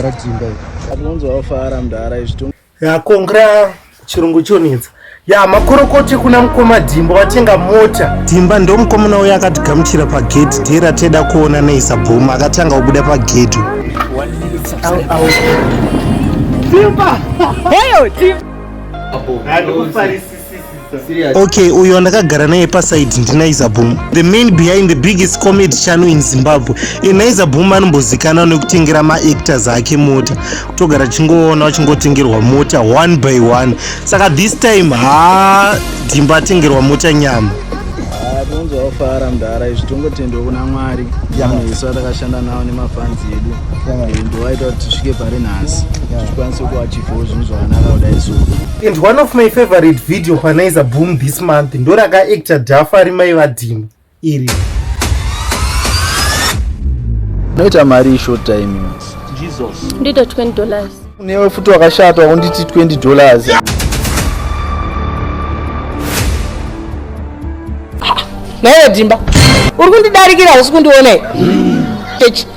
Paratimba iri. Atonzo wafara mdara izvito. Ya kongra chirungu chonetsa. Ya makorokote kuna mkoma Dimba watenga mota. Dimba ndo mkomona uya akatigamuchira pa gate dera teda kuona neisa boom akatanga kubuda pa gate. Dimba. Heyo Dimba. Apo. Ndikufarisisa. okay uyo ndakagara naye paside ndinaiza boom the main behind the biggest comedy channel in zimbabwe inaiza boom anombozikana nekutengera maactors ake mota kutogara chingoona wachingotengerwa mota one by one saka this time ha dhimba atengerwa mota nyama tinozofara mdhara izvi tongotendwa kuna mwari vanhu isu vatakashanda navo nemafanzi edu ndo vaita kuti tisvike pari nhasi tikwanise kuachifawo zvinhu zvakanaka kudai soo and one of my favorite video panaiza boom this month ndorakaactor dhafa ari mai vadhima iri unoita mari yeshort time jesus ndida 20 dollars unewe futi wakashata wakunditi 20 dollars yeah. naiwe dhimba uri kundidarikira usi kundione mm.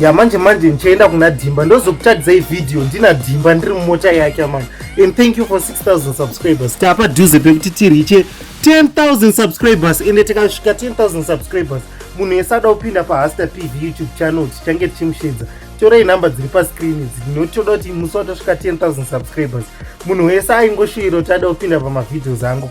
ya manje manje ndichaenda kuna dhimba ndozokutsvagidzai vhidhiyo ndina dhimba ndiri mumota yake amai and thank you for 6000 subscribers tapa dhuze pekuti tiriche 10000 subscribers ende tikasvika 10000 subscribers munhu yese ada kupinda pahasta pv youtube channel tichange tichimushedza torai nhamba dziri pascreen idzi nokuti toda kuti musi watosvika 10000 subscribers munhu wese aingoshuiro kuti ada kupinda pamavideos angu